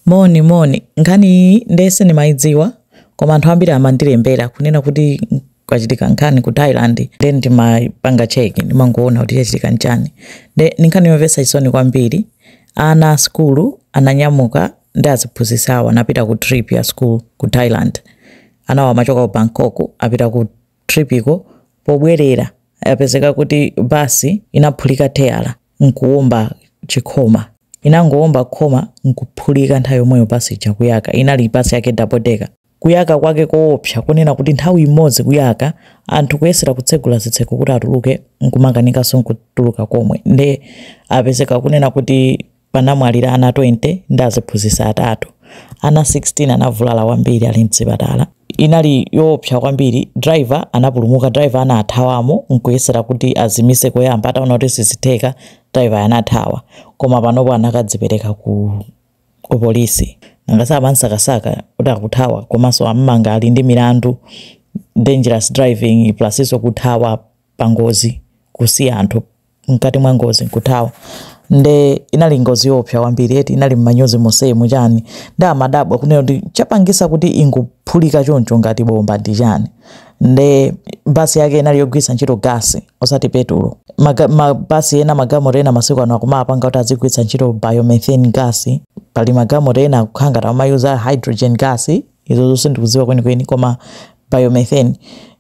Moni, moni. Nkhani iyi nde sindimayidziwa koma anthu ambiri amandilembera kunena kuti kwachitika nkhani ku Thailand nde ndimapanga check ndimangoona kuti chachitika ndi chani. Nde ndi nkhani yomvetsa chisoni kwambiri. Ana a sukulu ananyamuka ndi aziphunzitsi awo anapita ku trip ya sukulu ku Thailand. Anawa amachoka ku Bangkok anapita ku trip iko pobwelera yapezeka kuti bus inaphulika teyala nkuwomba chikhoma. inangowomba khoma nkuphulika nthawi yomweyo bus ija kuyaka. inali bus yake double decker. kuyaka kwake koopsa kunena kuti nthawi imodzi kuyaka anthu kuyesera kutsegula zitseko kuti atuluke nkumakanikanso nkutuluka komwe nde apezeka kunena kuti panamwalira ana 20 ndi aziphunzitsi atatu. Ana 16 anavulala kwambiri ali m'chipatala. Inali yoopsa kwambiri. Driver anapulumuka. Driver anathawamo n'kuyesera kuti azimitse koyamba. Ataona kuti sizitheka, driveryo anathawa. Koma panopo anakadzipereka ku kupolisi. Nanga samam'sakasaka kuti akuthawa komanso am'manga ali ndi milandu, dangerous driving, plusnso kuthawa pangozi kusiya anthu mkati mwa ngozi nkuthawa nde inali ngozi yoopsa kwambiri eti inali mmanyuzi monsemu chani nde ndimadabwa kunena kuti chapangitsa kuti ingophulika choncho ngati bomba ndi chani nde basi yake inali yogwiritsa ntchito gasi osati petulo Maga- mabasi ena magalimoto ena masiku ano akumapanga kuti azigwiritsa ntchito biomethane gas pali magalimoto ena akukhala ngati amayuza hydrogen gas izozo sindikuziwa kweni kweni koma biomethane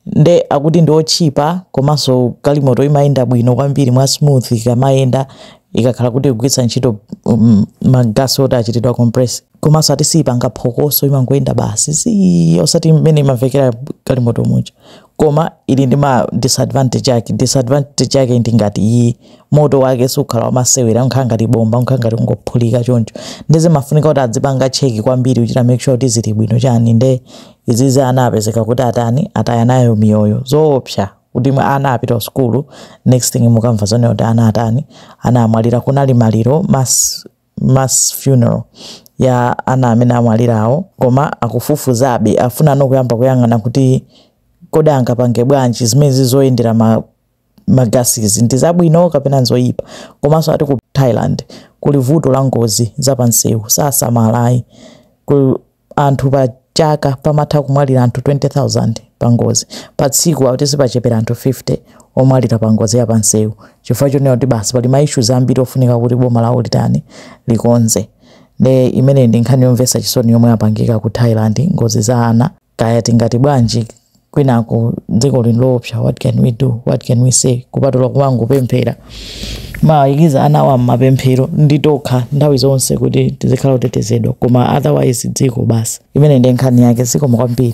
nde akuti ndi otchipa komanso galimoto imayenda bwino kwambiri mwa smooth ikamayenda ikakhala kuti ikugwiritsa ntchito um, magasi oti achitidwa compress komanso ati siipanga phokoso imangoyenda basi si osati mmene imamvekera galimoto muja koma ili ndi ma disadvantage ake disadvantage yake ndi ngati iyi moto wake sukhala wamasewera umakhala ngati bomba umakhala ngati ukungophulika choncho nde zimafunika kuti adzipanga cheki kwambiri kuchita make sure kuti zili bwino chani nde izizi ana apezeka kuti atani ataya nayo miyoyo zoopsa kuti mwana ana apita ku sukulu next thing mukamva zonena kuti ana atani ana amwalira kunali maliro mass, mass funeral ya ana amene amwalirawo koma akufufuzabe afuna ndikuyamba kuyang'ana kuti kodi angapange bwanji zimene zizoyendera ma magasizi ndi zabwino kapena nzoyipa komanso ati ku thailand kuli vuto la ngozi zapansewu sasamalayi anthu pa chaka pamatha kumwalira anthu 20000 pa ngozi pa tsiku akuti sipachepera anthu 50 omwalira pa ngozi yapansewu chifukwa chonena kuti basi pali maishuzi ambiri ofunika kuti boma lawo litani likonze nde imeneyi ndi nkhani yomvetsa chisoni yomwe yapangika ku thailand ngozi za ana kaya tingati bwanji kwinako dziko lino loopsa what can we do what can we say kupatula kumangopemphera kuwayikiza ana awa mmapemphero ndi tonse nthawi zonse kuti tizikhala otetezedwa koma otherwise dziko basi imene ndi nkhani yake zikomo kwambiri